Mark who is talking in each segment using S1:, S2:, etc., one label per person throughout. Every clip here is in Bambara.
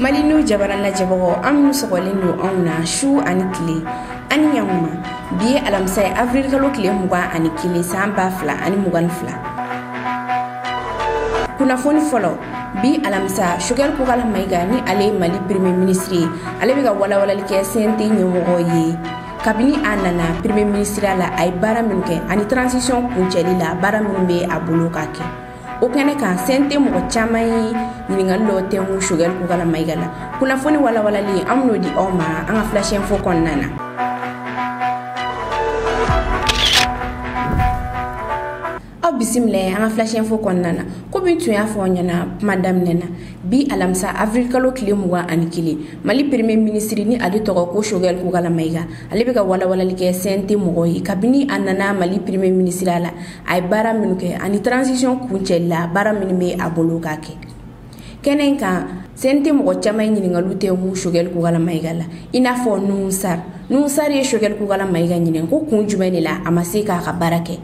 S1: mali n'u jabara lajɛbagaw aw minnu sɔgɔlen don anw na su ani tile ani ɲankuma bi ye alamisa ye avril kalo tile mugan ani kelen san ba fila ani mugan ni fila kunnafoni fɔlɔ bi alamisa shogɛl kokala mayiga ni ale ye mali premier minisiri ye ale bɛ ka walawalali kɛ cnt ɲɛmɔgɔ ye kabini a nana premier minisiriya la a ye baara minnu kɛ ani transition kuncɛli la baara minnu bɛ a bolo ka kɛ o kɛnɛ kan cnt mɔgɔ caman ye ɲininkali dɔ tɛmɛ shogɛl kokala mayiga la kunnafoni walawalali an bɛn'o di aw ma an ka flash info kɔnɔna na aw bisimila an ka flash info kɔnɔna na komi n tun y'a fɔ aw ɲɛna kuma daminɛ na bi alamisa avril kalo tile mugan ani kelen mali premier minisiri ni ale tɔgɔ ko shogɛl kokala mayiga ale bɛ ka walawalali kɛ cnt mɔgɔ ye kabini a nana mali premier minisiriya la a ye baara minnu kɛ ani transition kuncɛli la baara minnu bɛ a bolo ka kɛ kɛnɛ in kan cnt mɔgɔ caman ye ɲininkali dɔ tɛmɛ shogɛl kokala mayiga la i n'a fɔ nuhun sar nuhun sar ye shogɛl kokala mayiga ɲininka ko kun jumɛn de la a ma se k'a ka baara kɛ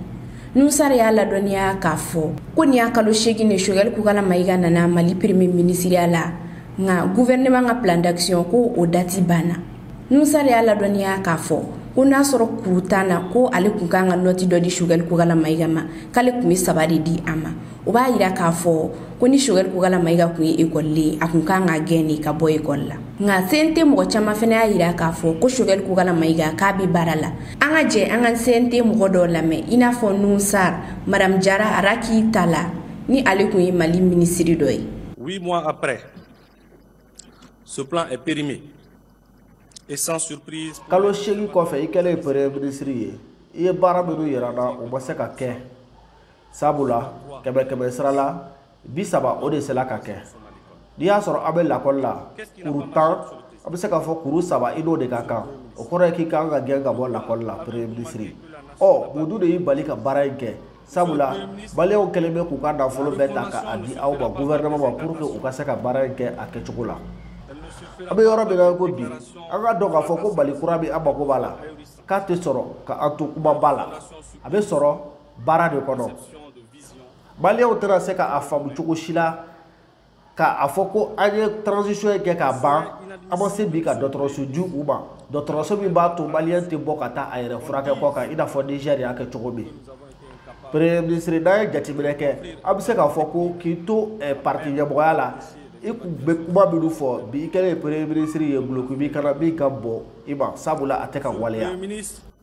S1: nuhun sar y'a ladɔnniya k'a fɔ ko nin y'a kalo seegin ye shogɛl kokala mayiga nana mali premier minisiriya la nka gouvernement ka plan d'action ko o dati banna nuhun sar y'a ladɔnniya k'a fɔ ko n'a sɔrɔ kuru tan na ko ale kun kan ka nɔti dɔ di shogɛl kokala mayiga ma k'ale kun be saba de di a ma o b'a yira k'a fɔ ko ni shogɛl kokala mayiga kun ye ekɔliden ye a kun kan ka gɛn de ka bɔ ekɔli la nka cnt mɔgɔ caman fɛnɛ y'a yira k'a fɔ ko shogɛl kokala mayiga k'a be baara la an ka jɛ an ka cnt mɔgɔ dɔw lamɛn i n'a fɔ nuhun sar madam jara raki tala ni ale kun ye mali minisiri dɔ ye huit mois après
S2: Ce plan est périmé et sans surprise. Kalo seegin
S3: kɔfɛ i kɛlen premier ministre ye i ye baara minnu yira na o ma se ka kɛ sabula kɛmɛ kɛmɛ sara la bi saba o de sela ka kɛ n'i y'a sɔrɔ an bɛ lakɔli la kuru tan an bɛ se k'a fɔ kuru saba i n'o de ka kan o kɔrɔ ye k'i ka kan ka gɛn ka bɔ lakɔli la premier ministre ɔ mun dun de y'i bali ka baara in kɛ. sabula maliyɛnw kɛlen bɛ k'u ka nafolo bɛɛ ta ka a di aw ma gouvernement ma pour que u ka se ka baara in kɛ a kɛcogo la an bɛ yɔrɔ min na ko bi an k'a dɔn k'a fɔ ko mali kura min an mago b'a la k'a tɛ sɔrɔ ka an to kumaba la a bɛ sɔrɔ baara de kɔnɔ maliyɛnw tɛna se ka a faamu cogo si la k'a fɔ ko an ye transition kɛ k'a ban an ma se bi ka dɔgɔtɔrɔso di u ma dɔgɔtɔrɔso min b'a to maliyɛn tɛ bɔ ka taa a yɛrɛ furakɛ kɔkan i n'a fɔ nizɛri y'a kɛ cogo min premier ministre n'an ye jateminɛ kɛ an bɛ se k'a fɔ ko k'i to eh, parti ɲɛmɔgɔya la i kun bɛ kuma minnu fɔ bi i kɛlen ye premier ministre ye duloki b'i kan na min ka bon i ma sabula a tɛ ka waleya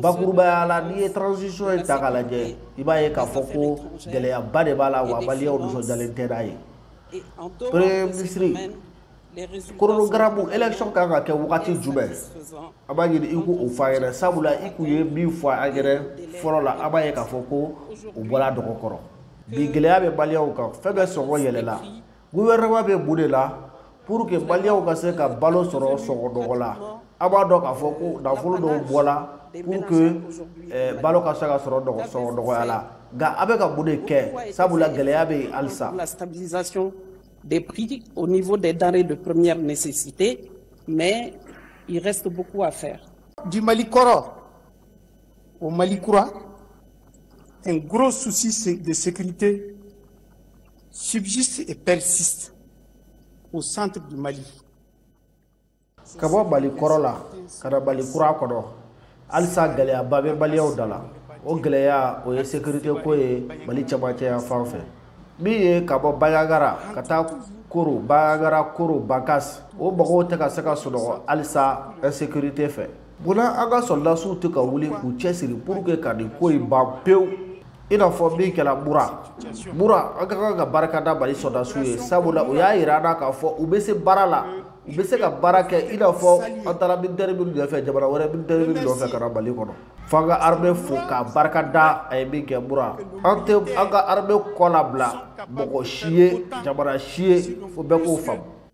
S3: bakurubaya la n'i ye transition in ta k'a lajɛ i b'a ye k'a fɔ ko gɛlɛyaba de b'a la wa maliyɛnw nisɔndiyalen tɛ n'a ye premier minisiri koronogaramu élection kan ka kɛ wagati jumɛn an b'a ɲini i k'o fɔ an ɲɛna sabula i kun ye min fɔ an ɲɛna fɔlɔ la an b'a ye k'a fɔ ko o bɔra dɔgɔ kɔrɔ bi gɛlɛya bɛ maliyɛnw kan fɛn bɛɛ sɔngɔ yɛlɛla guwɛrɛnɛma bɛ mun de la pour que maliyɛnw ka se ka balo sɔrɔ sɔngɔ nɔgɔ la an b'a dɔn k'a fɔ ko nafolo dɔw bɔla pour que eh, balo ka se ka sɔrɔ sɔngɔ nɔgɔya la nka a bɛ ka mun de kɛ sabula gɛlɛya bɛ yen halisa la
S4: stabilisation des prix au niveau des denrées de première nécessité, mais il reste beaucoup à faire. Du Mali Koro
S5: au Mali Koura, un gros souci de sécurité subsiste et persiste au centre du
S3: Mali. ka bɔ mali kɔrɔ la ka na mali kura kɔnɔ halisa gɛlɛyaba bɛ maliyɛnw da la o gɛlɛya o ye sekirite ko ye mali cɛmancɛ yan fan fɛ min ye ka bɔ banjagara ka taa koro banjagara koro bankas o mɔgɔw tɛ ka se ka sunɔgɔ halisa insekirite fɛ Munna an ka sɔrɔdasiw tɛ ka wuli k'u cɛsiri pour que ka nin ko in ban pewu i n'a fɔ min kɛra mura mura an ka kan ka barika da mali sɔrɔdasiw ye sabula u y'a yira an na k'a fɔ u bɛ se baara la u bɛ se ka baara kɛ i n'a fɔ an taara militɛri minnu nɔfɛ jamana wɛrɛ militɛri minnu nɔfɛ ka na mali kɔnɔ fo an ka armée fo k'a barika da a ye min kɛ mura an tɛ an ka armée kɔ labila mɔgɔ si ye jamana si ye fo bɛɛ k'o faamu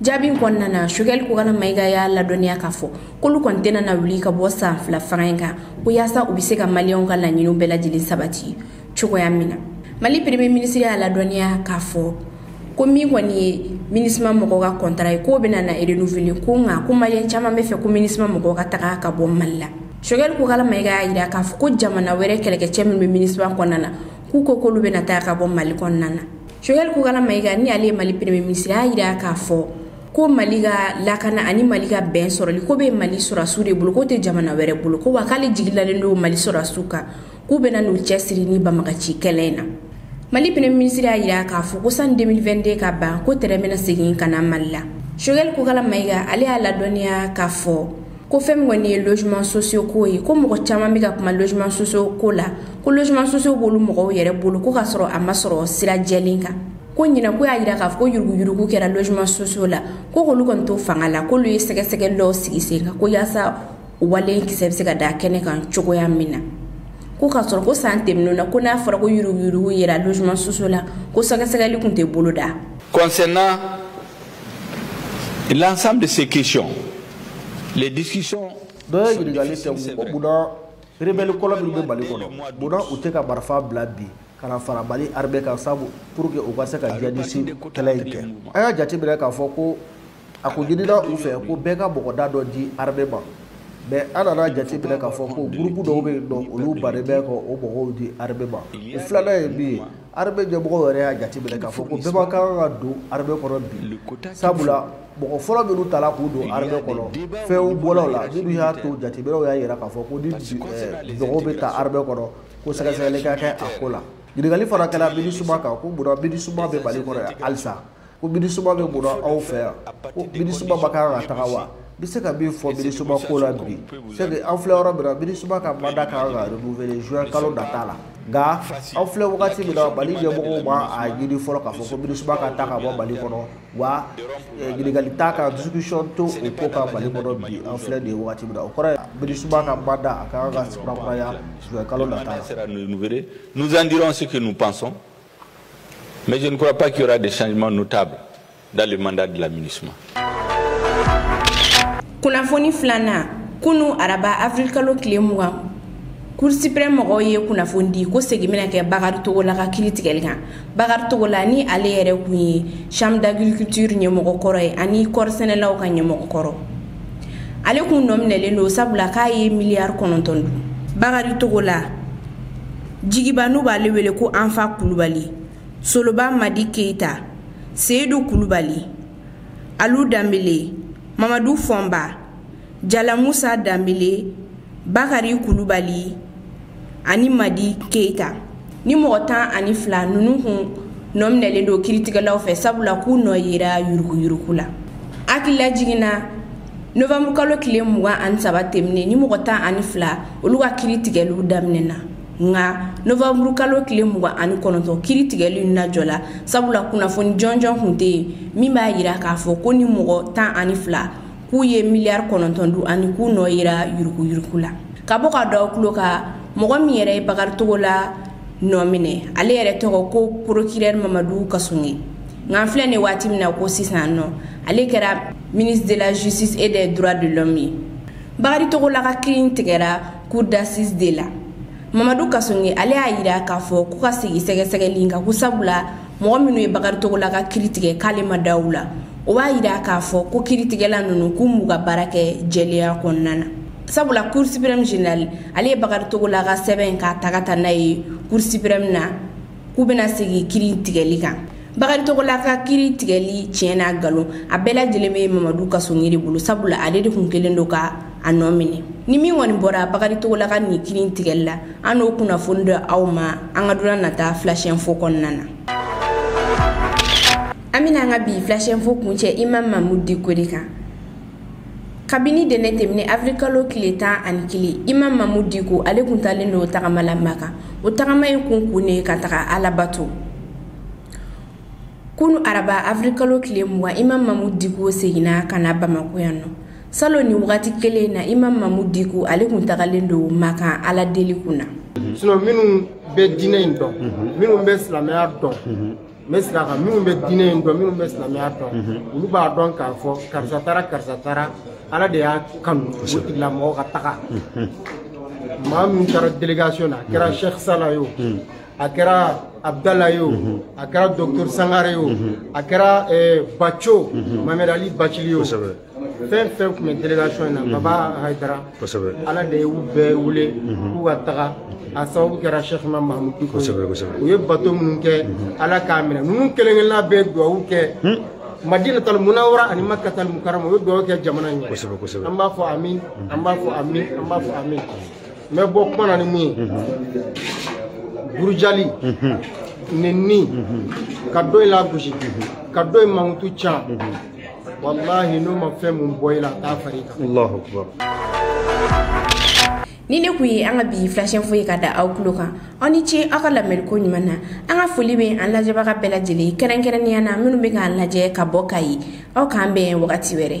S1: jaabi in kɔnɔna na sogɛli kokala mayiga y'a ladɔnniya k'a fɔ k'olu kɔni tɛna na wuli ka bɔ san fila fanga in kan ko yaasa u bɛ se ka maliyɛnw ka laɲiniw bɛɛ lajɛlen sabati cogoya min na mali pereme minisiri y'a ladɔnniya k'a fɔ ko min kɔni ye minusima mɔgɔw ka kɔntara ye k'o bɛna na renouveler ko nka ko maliyɛn caman b'a fɛ ko minusima mɔgɔw ka taga ka bɔ mali la sogɛli kokala mayiga y'a jira k'a fɔ ko jamana wɛrɛ kɛlɛkɛcɛ min bɛ minusima kɔnɔna na k'u ko k'olu bɛna taga ka bɔ mali kɔnɔna na Choguel Kokalla Maïga ni ale ye Mali premier ministre a y'a jira k'a fɔ ko Mali ka lakana ani Mali ka bɛn sɔrɔli k'o bɛ Mali sɔrɔdasiw de bolo k'o tɛ jamana wɛrɛ bolo ko wa k'ale jigi dalen don Mali sɔrɔdasiw kan k'u bɛna n'u cɛsiri ni banbagaci kɛlɛ in na. Mali premier ministre y'a jira k'a fɔ ko sani 2022 ka ban ko tɛrɛn bɛna segin ka na Mali la. Choguel Kokalla Maïga ale y'a ladɔnniya k'a fɔ ko fɛn min kɔni ye logement sociaux ko ye ko mɔgɔ caman bɛ ka kuma logement sociaux ko la ko logement sociaux b'olu mɔgɔw yɛrɛ bolo ko ka sɔrɔ a ma sɔrɔ sira jɛlen kan ko ɲinan ko y'a yira k'a fɔ ko yuruguyurugu kɛra logement sociaux la ko k'olu kɔni to fanga la k'olu ye sɛgɛsɛgɛli dɔw sigi sen kan ko yaasa wale kisɛ bɛ se ka da kɛnɛ kan cogoya min na ko k'a sɔrɔ ko san tɛmɛnenw na ko n'a fɔra ko yuruguyurugu yera logement sociaux la ko sɛgɛsɛgɛli tun tɛ bolo da concernant
S6: L'ensemble de ces questions, les discussions. Dɔ ye
S3: ɲininkali kɛ ko munna rebelle kɔlɔ minnu bɛ Mali kɔnɔ munna u tɛ ka marifa bila bi ka na fara Mali armée kan sabu pour que u ka se ka djihadiste kɛlɛ in kɛ an y'a jateminɛ k'a fɔ ko a ko ɲinina u fɛ ko bɛɛ ka mɔgɔda dɔ di armée ma mais an nana jateminɛ k'a fɔ ko groupe dɔw bɛ yen nɔ olu bannen bɛ ka o mɔgɔw di armée ma o filanan ye min ye armée ɲɛmɔgɔw yɛrɛ y'a jateminɛ k'a fɔ ko bɛɛ man kan ka don armée kɔnɔ bi sabula mɔgɔ fɔlɔ minnu tala k'u don armée kɔnɔ fɛnw bɔla u la minnu y'a to jateminɛw y'a jira k'a fɔ ko ni mɔgɔw bɛ ta armée kɔnɔ ko sɛgɛsɛgɛli ka kɛ a ko la ɲininkali fana kɛra MINUSMA kan ko munna MINUSMA bɛ mali kɔnɔ yan halisa ko MINUSMA bɛ mun na aw fɛ yan ko MINUSMA man kan ka taga wa bɛ se ka min fɔ MINUSMA ko la bi c'est que an filɛ yɔrɔ min na MINUSMA ka mandat ka kan ka renouveler juin kalo nata la nka an filɛ wagati min na mali ɲɛmɔgɔw ma a ɲini fɔlɔ k'a fɔ ko MINUSMA ka taga ka bɔ mali kɔnɔ wa ɲininkali eh, t'a kan discussion t'o ko kan mali kɔnɔ bi an filɛ nin wagati min na o kɔrɔ ye MINUSMA ka mandat a ka kan ka kurakuraya juin kalo nata la nous
S6: en dirons ce que nous pensons Mais je ne crois pas qu'il y aura des changements notables dans le mandat de la MINUSMA.
S1: kunnafoni filanan kunu araba avril kalo tile mugan cour suprême mɔgɔw ye kunnafoni di ko segin bɛna kɛ bakari togola ka kiri tigɛli kan bakari togola ni ale yɛrɛ kun ye chambre d'agriculture ɲɛmɔgɔ kɔrɔ ye ani kɔri sɛnɛlaw ka ɲɛmɔgɔ kɔrɔ ale kun nɔ minɛlen don sabula k'a ye miliyari kɔnɔntɔn dun bakari togola jigiba n'u b'ale wele ko anfa kulubali soloba madi keyita seyidu kulubali alu danbele mamadu fɔnba jalamusa danbele bakari kulubali ani madi keyita nin mɔgɔ tan ani fila ninnu kun nɔ minɛlen don kiritigɛlaw fɛ sabula k'u nɔ yera yuruguyurugu la hakililajigin na novanburu kalo tile mugan ani saba tɛmɛnen nin mɔgɔ tan ani fila olu ka kiri tigɛliw daminɛna nka novanburu kalo tile mugan ani kɔnɔntɔn kiri tigɛli lajɔla sabula kunnafoni jɔnjɔn tun tɛ yen min b'a jira k'a fɔ ko nin mɔgɔ tan ani fila k'u ye miliyari kɔnɔntɔn dun ani k'u nɔ yera yuruguyurugu la ka bɔ ka don aw tulo kan mɔgɔ min yɛrɛ ye bakari togola nɔ minɛ ale yɛrɛ tɔgɔ ko procureur mamadu kasonge nka an filɛ nin waati min na ko sisan nɔ ale kɛra ministre de la justice et des droits de l'homme ye bakari togola ka kiri tigɛra cour d'assise de la mamadu kasonge ale y'a yira k'a fɔ k'u ka segin sɛgɛsɛgɛli in kan ko sabula mɔgɔ minnu ye bakari togola ka kiri tigɛ k'ale ma da u la o b'a yira k'a fɔ ko kiritigɛla ninnu k'u m'u ka baara kɛ jɛlenya kɔnɔna na sabula cour suprême général ale ye bakari togola ka sɛbɛn k'a ta ka taa n'a ye cour suprême na k'u bɛna sigi kiri tigɛli kan bakari togola ka kiri tigɛli tiɲɛ n'a nkalon a bɛɛ lajɛlen bɛ mamadu kasoge de bolo sabula ale de kun kɛlen don ka a nɔ minɛ ni min kɔni bɔra bakari togola ka nin kiri tigɛli la an n'o kunnafoni d'aw ma an ka donna nata flash info kɔnɔna na an bɛna an ka bi flash info kuncɛ imam mamudu diko de kan kabini ntɛnɛn tɛmɛnen avril kalo tile tan ani kelen imam mamudu diko ale kun taalen don tagama la maka o tagama in kun kun ye ka taga ala bato kunu araba avril kalo tile mugan imam mamudu diko seginna ka na bamako yan nɔ salo ni wagati kelen na imam mamudu diko ale kun tagalen don maka ala deli kun na sinon minnu
S7: bɛ diinɛ in dɔn minnu bɛ silamɛya dɔn n bɛ sira kan minnu bɛ diinɛ in dɔn minnu bɛ silamɛya dɔn olu b'a dɔn k'a fɔ karisa taara karisa taara ala de y'a kanu o tigilamɔgɔ ka taga maa min taara delegation na a kɛra sheikh sala ye o a kɛra abdala ye o a kɛra docteur sangare ye o a kɛra baco mamɛd ali bacili ye o fɛn fɛn kun bɛ delegation in na mhm. baba hayidara kosɛbɛ ala de y'u bɛɛ wele mhm. k'u ka taga a sababu kɛra sheikh imam mahamudu diko u ye bato minnu kɛ mhm. ala k'a minɛ ninnu kelen kelenna bɛɛ duwawu kɛ hmm. madina tal munawara ani makka tal mukarama u ye duwawu kɛ jamana in ɲɛ an b'a fɔ amin an b'a fɔ amin an b'a fɔ amin n bɛ bɔ kuma na ni mun ye burujali nenni ka dɔ in lagosi ka dɔ in mankutu can walahi n'o ma fɛn min bɔ i la a t'a far'i kan allahu
S1: akbar nin ne kun ye an ka bi flash info ye ka da aw kulo kan aw ni ce aw ka lamɛnliko ɲuman na an ka foli bɛ an lajɛbaga bɛɛ lajɛlen kɛrɛnkɛrɛnnenya na minnu bɛ k'an lajɛ ka bɔ kayi aw k'an bɛn wagati wɛrɛ